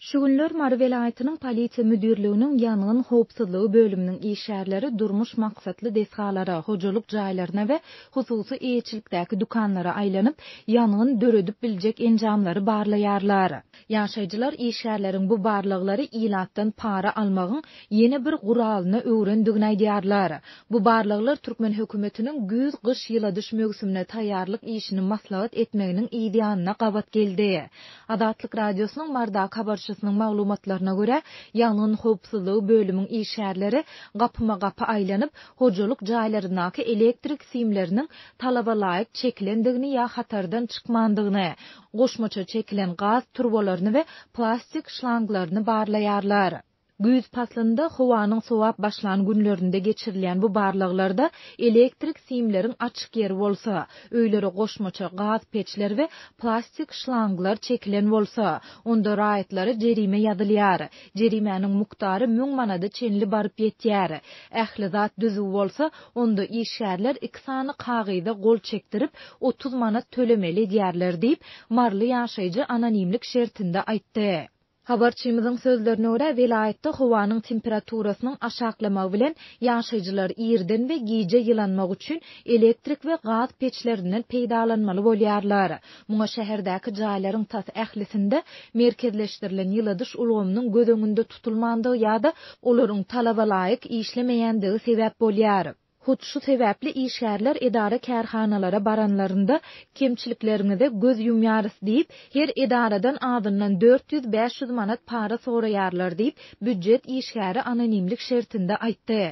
Şu günler Mary welaýatynyň Polisiýa müdirliginiň ýangyn howpsuzlygy bölüminiň işgärleri durmuş maksatly desgalara, hojalyk jaýlaryna we hususy eýeçilikdäki dükanlara aýlanyp, ýangyn döredip biljek enjamlary barlaýarlar. Ýaşaýjylar işgärleriň bu barlaglary ilatdan para almagyň ýene bir guralyna öwrendigini aýdýarlar. Bu barlaglar türkmen hökümetiniň güýz-gyş ýyladyş möwsümine taýýarlyk işini maslahat etmeginiň yzýanyna gabat geldi. Azatlyk Radiosynyň Mardak habarçysynyň maglumatlaryna görä, ýangyn howpsuzlygy bölümiň işgärleri gapma-gapy aýlanyp, hojalyk jaýlaryndaky elektrik simleriniň talabalaýyk çekilendigini ýa hatardan çykmandygyny, goşmaça çekilen gaz turbalaryny we plastik şlanglaryny barlaýarlar. Güýz paslynda howanyň sowap başlan günlerinde geçirilýän bu barlaglarda elektrik simleriň açyk ýeri bolsa, öýlere goşmaça gaz peçler we plastik şlanglar çekilen bolsa, onda raýatlara jerime ýazylýar. Jerimäniň mukdary müň manada çenli baryp ýetýär. Ähli zat düzüw bolsa, onda işgärler iki sany kagyza gol çekdirip, otuz manat tölemeli edýärler diýip, maryly ýaşaýjy anonimlik şertinde aýtdy. Habarçymyzyň sözlerine görä, welaýatda howanyň temperaturasynyň aşaklamagy bilen, ýaşaýjylar irden we gije ýylanmak üçin elektrik we gaz peçlerinden peýdalanmaly bolýarlar. Muňa şäherdäki jaýlaryň tas ählisinde merkezleşdirilen ýyladyş ulgamynyň göz öňünde tutulmandygy ýa-da olaryň talabalaýyk işlemeýändigi sebäp bolýar. Hut şu sebäpli işgärler edara-kärhanalara baranlarynda, Kemçilikleriňize göz ýumýarys diýip, her edaradan azyndan dört ýüz, bäş ýüz manat para soraýarlar diýip, býujet işgäri anonimlik şertinde aýtdy.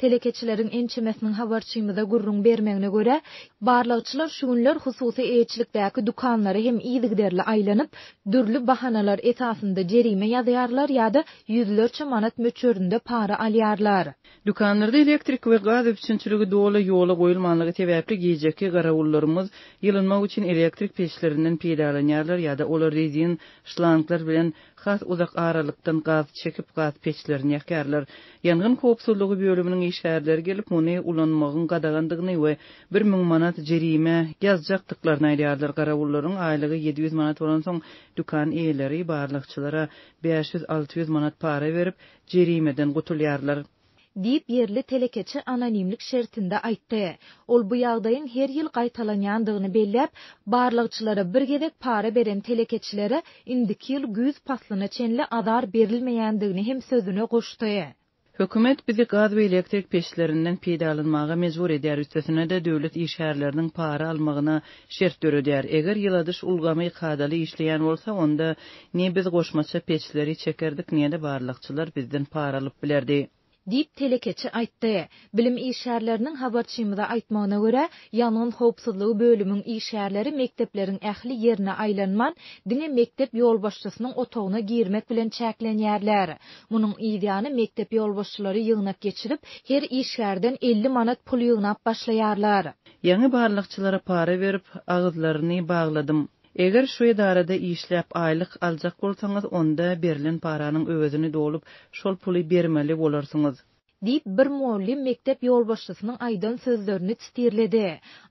Telekeçileriň ençemesiniň habarçymyza gürrüň bermegine görä, barlagçylar şu günler hususy eýeçilikdäki dükanlara hem yzygiderli aýlanyp, dürli bahanalar esasynda jerime ýazýarlar ýa-da ýüzlerçe manat möçberinde para alýarlar. Dükanlarda elektrik we gaz üpjünçiligi doly ýola goýulmanlygy sebäpli gijeki garawullarymyz ýylynmak üçin elektrik peçlerinden peýdalanýarlar ýa-da olar rezin şlanglar bilen has uzak aralykdan gaz çekip gaz peçlerini ýakýarlar. Ýangyn howpsuzlygy bölüminiň işgärleri gelip muny ulanmagyň gadagandygyny we bir müň manat jerime ýazjakdyklaryny aýdýarlar. Garawullaryň aýlygy ýedi ýüz manat bolansoň dükan eýeleri barlagçylara bäş ýüz-alty ýüz manat para berip jerimeden gutulýarlar. Diýip, ýerli telekeçi anonimlik şertinde aýtdy. Ol bu ýagdaýyň her ýyl gaýtalanýandygyny belläp, barlagçylara bir gezek para beren telekeçilere indiki ýyl güýz paslyna çenli azar berilmeýändigini hem sözüne goşdy. Hökümet bizi gaz we elektrik peçlerinden peýdalanmaga mejbur edýär, üstesine-de döwlet işgärleriniň para almagyna şert döredýär. Eger ýyladyş ulgamy kadaly işleýän bolsa, onda Ne biz goşmaça peçleri çekerdik, ne-de barlagçylar bizden para alyp bilerdi. Diýip, telekeçi aýtdy. Bilim işgärleriniň habarçymyza aýtmagyna görä, ýangyn howpsuzlygy bölümiň işgärleri mekdepleriň ähli ýerine aýlanman, diňe mekdep ýolbaşçysynyň otagyna girmek bilen çäklenýärler. Munuň yz ýany mekdep ýolbaşçylary ýygnak geçirip, her işgärden elli manat pul ýygnap başlaýarlar. Ýaňy barlagçylara para berip, agyzlaryny bagladym. Eger şu edarada işläp aýlyk aljak bolsaňyz, onda berlen paranyň öwezini dolup, şol puly bermeli bolarsyňyz. Diýip, bir mugallym mekdep ýolbaşçysynyň aýdan sözlerini çtirledi.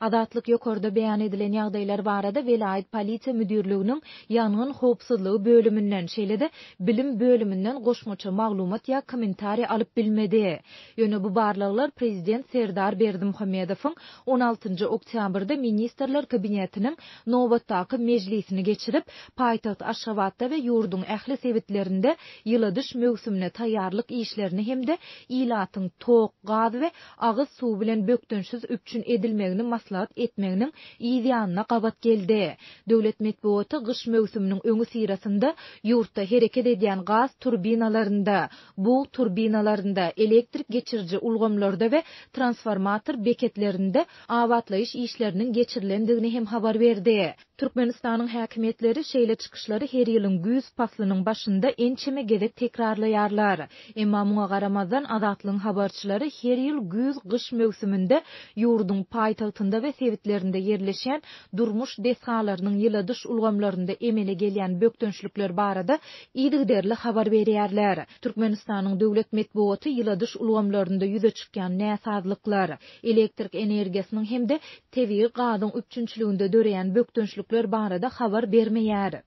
Azatlyk ýokarda beýan edilen ýagdaýlar barada welaýat polisiýa müdirliginiň ýangyn howpsuzlygy bölüminden, şeýle-de bilim bölüminden goşmaça maglumat ýa kommentariý alyp bilmedi. Ýöne bu barlaglar prezident Serdar Berdimuhamedowyň on altynjy oktýabrda Ministrler Kabinetiniň nobatdaky mejlisini geçirip, paýtagt Aşgabatda we ýurduň ähli sebitlerinde ýyladyş möwsümine taýýarlyk işlerini hem-de ilatyň tok, gaz we agyz suwy bilen bökdençsiz üpjün edilmegini maslahat etmeginiň yz ýanyna gabat geldi. Döwlet metbugaty gyş möwsüminiň öňüsyrasynda ýurtda hereket edýän gaz turbinalarynda, bug turbinalarynda, elektrik geçiriji ulgamlarda we transformator beketlerinde abatlaýyş işleriniň geçirilendigini hem habar berdi. Türkmenistanyň häkimiýetleri şeýle çykyşlary her ýylyň güýz paslynyň başynda ençeme gezek tekrarlaýarlar. Emma muňa garamazdan, Azatlygyň habarçylary her ýyl güýz-gyş möwsüminde ýurduň paýtagtynda we sebitlerinde ýerleşýän durmuş desgalarynyň ýyladyş ulgamlarynda emele gelýän bökdençlikler barada yzygiderli habar berýärler. Türkmenistanyň döwlet metbugaty ýyladyş ulgamlarynda ýüze çykýan näsazlyklar, elektrik energiýasynyň hem-de tebigy gazyň üpjünçiliginde döreýän bökdençlikler barada habar bermeýär.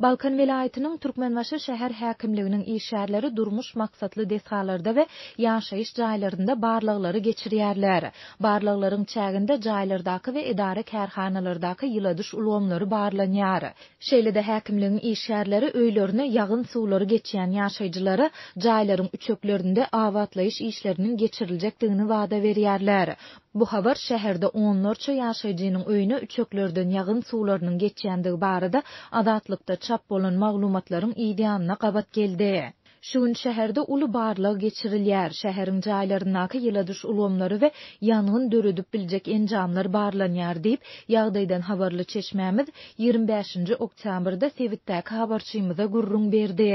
Balkan welaýatynyň Türkmenbaşy şäher häkimliginiň işgärleri durmuş maksatly desgalarda we ýaşaýyş jaýlarynda barlaglary geçirýärler. Barlaglaryň çäginde jaýlardaky we edara-kärhanalardaky ýyladyş ulgamlary barlanýar. Şeýle-de häkimligiň işgärleri öýlerine ýagyn suwlary geçýän ýaşaýjylara jaýlaryň üçeklerinde abatlaýyş işleriniň geçiriljekdigini wada berýärler. Bu habar şäherde onlarça ýaşaýjynyň öýüne üçeklerden ýagyn suwlarynyň geçýändigi barada Azatlykda çap bolan maglumatlaryň yzýanyna gabat geldi. Şu gün şäherde uly barlag geçirilýär, şäheriň jaýlaryndaky ýyladyş ulgamlary we ýangyn döredip biljek enjamlar barlanýar diýip, ýagdaýdan habarly çeşmämiz ýigrimi bäşinji oktýabrda sebitdäki habarçymyza gürrüň berdi.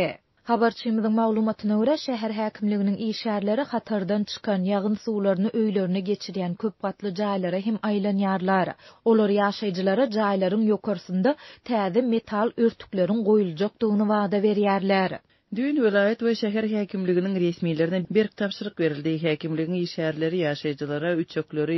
Habarçymyzyň maglumatyna görä, şäher häkimliginiň işgärleri hatardan çykan ýagyn suwlaryny öýlerine geçirýän köp gatly jaýlara hem aýlanýarlar. Olar ýaşaýjylara jaýlaryň ýokarsynda täze metal örtükleriň goýuljakdygyny wada berýärler. Düýn welaýat we şäher häkimliginiň resmilerine berk tabşyryk berildi. Häkimligiň işgärleri ýaşaýjylara üçekleri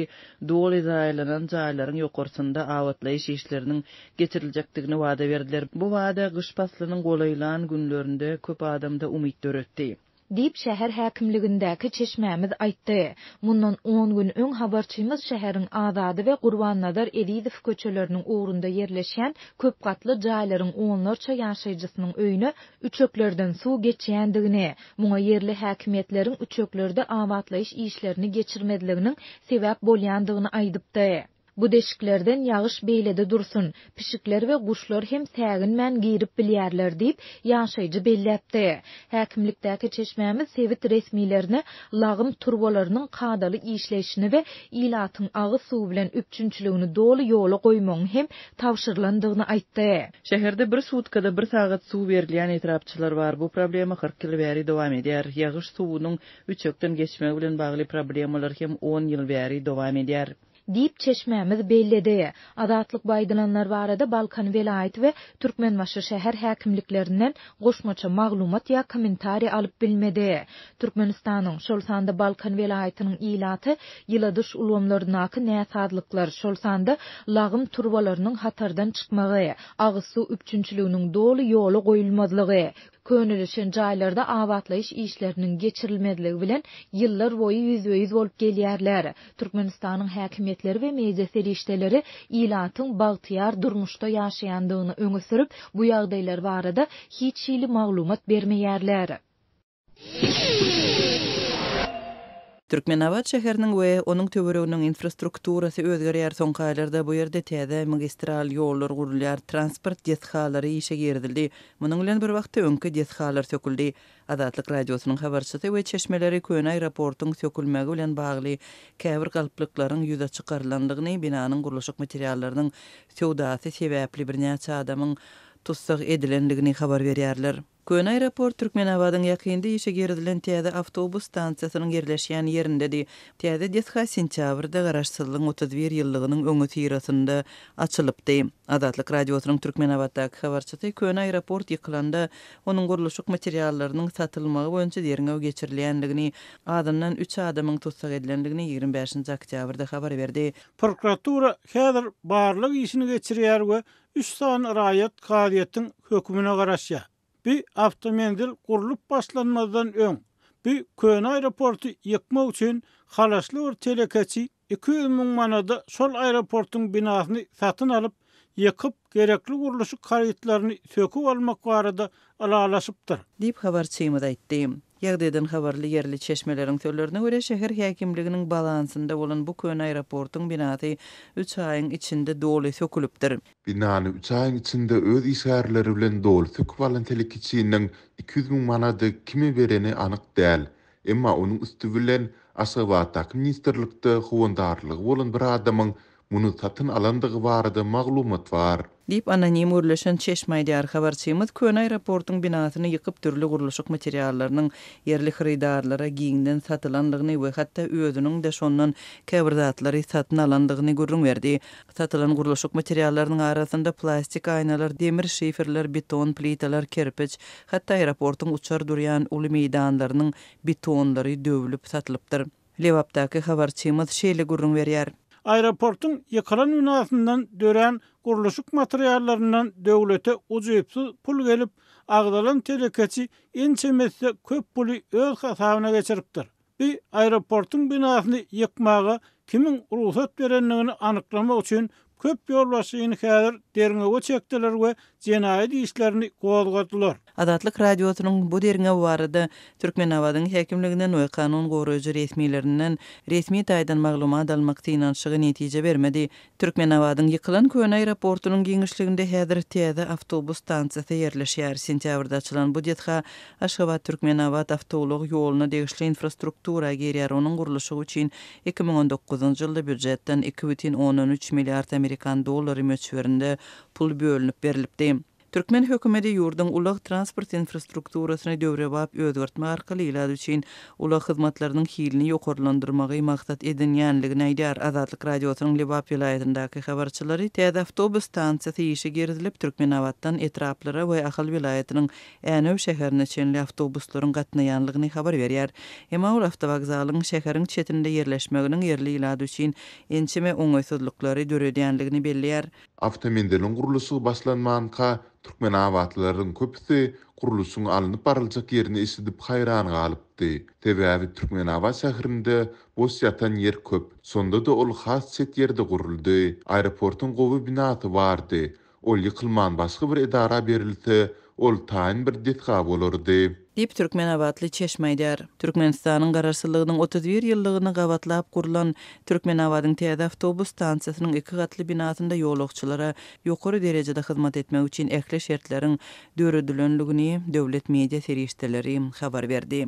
doly zaýalanan jaýlaryň ýokarsynda abatlaýyş işleriniň geçiriljekdigini wada berdiler. Bu wada gyş paslynyň golaýlan günlerinde köp adamda umyt döretdi. Diýip, şäher häkimligindäki çeşmämiz aýtdy. Mundan on gün öň habarçymyz şäheriň Azady we Gurbannazar Ezizow köçeleriniň ugrunda ýerleşýän köp gatly jaýlaryň onlarça ýaşaýjysynyň öýüne üçeklerden suw geçýändigini, muňa ýerli häkimiýetleriň üçeklerde abatlaýyş işlerini geçirmezliginiň sebäp bolýandygyny aýdypdy. Bu deşiklerden ýagyş beýlede dursun, pişikler we guşlar hem säginmän girip bilýärler diýip, ýaşaýjy belläpdi. Häkimlikdäki çeşmämiz sebit resmilerine lagym turbalarynyň kadaly işleýşini we ilatyň agyz suwy bilen üpjünçiligini doly ýola goýmagyň hem tabşyrylandygyny aýtdy. Şäherde bir sutkada bir sagat suw berilýän etrapçylar bar. Bu problema kyrk ýyl bäri dowam edýär. Ýagyş suwunyň üçekden geçmegi bilen bagly problemalar hem on ýyl bäri dowam edýär. diýip, çeşmämiz belledi. Azatlykba aýdylanlar barada Balkan welaýat we Türkmenbaşy şäher häkimliklerinden goşmaça maglumat ýa kommentariý alyp bilmedi. Türkmenistanyň, şol sanda Balkan welaýatynyň ilaty ýyladyş ulgamlaryndaky näsazlyklar, şol sanda lagym turbalarynyň hatardan çykmagy, agyz suw üpjünçiliginiň doly ýola goýulmazlygy, Könelişen jaýlarda abatlaýyş işleriniň geçirilmezligi bilen ýyllar boýy ýüzbe-ýüz bolup gelýärler. Türkmenistanyň häkimiýetleri we media serişdeleri ilatyň bagtyýar durmuşda ýaşaýandygyny öňe sürüp, bu ýagdaýlar barada hiç hili maglumat bermeýärler. Türkmenabat şäheriniň we onuň töwereginiň infrastrukturasy özgerýär, soňky aýlarda bu ýerde täze magistral ýollar gurulýar, transport desgalary işe girizildi. Munuň bilen bir wagtda öňki desgalar söküldi. Azatlyk Radiosynyň habarçysy we çeşmeleri köne aeroportuň sökülmegi bilen bagly käbir galplyklaryň ýüze çykarylandygyny, binanyň gurluşyk materiallarynyň söwdasy sebäpli birnäçe adamyň tussag edilendigini habar berýärler. Köne aeroport Türkmenabadyň ýakynda işe girizilen täze awtobus stansiýasynyň ýerleşýän ýerindedi. Täze desga sentýabrda Garaşsyzlygyň otuz bir ýyllygynyň öňüsyrasynda açylypdy. Azatlyk Radiosynyň Türkmenabatdaky habarçysy köne aeroport ýykylanda, onuň gurluşyk materiallarynyň satylmagy boýunça derňew geçirilýändigini, azyndan üç adamyň tussag edilendigini ýigrimi bäşinji oktýabrda habar berdi. Prokuratura häzir barlag işini geçirýär we Üç sany raýat kazyýetiň hökümine garaşýar. Bu awtomenzil gurlup başlanmazdan öň, bu köne aeroporty ýykmak üçin halaşly bir telekeçi iki ýüz müň manada şol aeroportyň binasyny satyn alyp, ýykyp, gerekli gurluşyk harytlaryny söküp almak barada ylalaşypdyr. Diýip, habarçymyz aýtdy. Ýagdaýdan habarly ýerli çeşmeleriň sözlerine görä, şäher häkimliginiň balansynda bolan bu köne aeroportyň binasy üç aýyň içinde doly sökülipdir. Binany üç aýyň içinde öz işgärleri bilen doly söküp alan telekeçiniň iki ýüz müň manady kime bereni anyk däl. Emma onuň üsti bilen Aşgabatdaky ministrlikde howandarlygy bolan bir adamyň Muny satyn alandygy barada maglumat bar. Diýip, anonim gürleşen çeşme aýdýar. Habarçymyz köne aeroportyň binasyny ýykyp, dürli gurluşyk materiallarynyň ýerli hyrydarlara giňden satylandygyny we hatda özüniň-de şondan käbir zatlary satyn alandygyny gürrüň berdi. Satylan gurluşyk materiallarynyň arasynda plastik aýnalar, demir şiferler, beton plitalar, kerpiç, hatda aeroportyň uçar durýan uly meýdanlarynyň betonlary döwlüp satylypdyr. Lebapdaky habarçymyz şeýle gürrüň berýär. Aeroportuň ýykylan binasyndan dörän gurluşyk materiallaryndan döwlete ujypsyz pul gelip, agzalan telekeçi ençemesi köp puly öz hasabyna geçiripdir. Bi aeroportuň binasyny ýykmaga kimiň rugsat berendigini anyklamak üçin Köp ýolbaşçyny häzir derňewe çekdiler we jenaýat işlerini gozgadylar. Azatlyk Radiosynyň bu derňew barada Türkmenabadyň häkimliginden we kanun goraýjy resmilerinden resmi taýdan maglumat almak synanyşygy netije bermedi. Türkmenabadyň ýykylan köne aeroportunyň giňişliginde häzir täze awtobus stansiýasy ýerleşýär. Sentýabrda açylan bu desga Aşgabat-Türkmenabat awtoulag ýoluna degişli infrastruktura girýär, onuň gurluşygy üçin Iki müň on dokuzynjy ýylda býujetden iki bütin ondan üç milliard amerikan dollary möçberinde pul bölünip berlipdi. Türkmen hökümeti ýurduň ulag-transport infrastrukturasyny döwrebap özgertmek arkaly ilat üçin ulag hyzmatlarynyň hilini ýokarlandyrmagy maksat edinýändigini aýdýar. Azatlyk Radiosynyň Lebap welaýatyndaky habarçylary täze awtobus stansiýasy işe girizilip, Türkmenabatdan etraplara we Ahal welaýatynyň Änew şäherine çenli awtobuslaryň gatnaýanlygyny habar berýär. Emma ol awtowokzalyň şäheriň çetinde ýerleşmeginiň ýerli ilat üçin ençeme oňaýsyzlyklary döredýänligini belleýär. Awtomenziliň gurluşygy başlanmanka, türkmenabatlylaryň köpüsi gurluşyň alnyp baryljak ýerini eşidip haýran galypdy. Sebäbi Türkmenabat şäherinde boş ýatan ýer köp. Şonda-da ol has çet ýerde guruldy. Aeroportyň gowy binasy bardy. Ol ýykylman başga bir edara berilse, ol taýyn bir desga bolardy. Diýip, türkmenabatly çeşme aýdýar. Türkmenistanyň Garaşsyzlygynyň otuz bir ýyllygyny gabatlap gurlan Türkmenabadyň täze awtobus stansiýasynyň iki gatly binasynda ýolagçylara ýokary derejede hyzmat etmek üçin ähli şertleriň döredilendigini döwlet media serişdeleri habar berdi.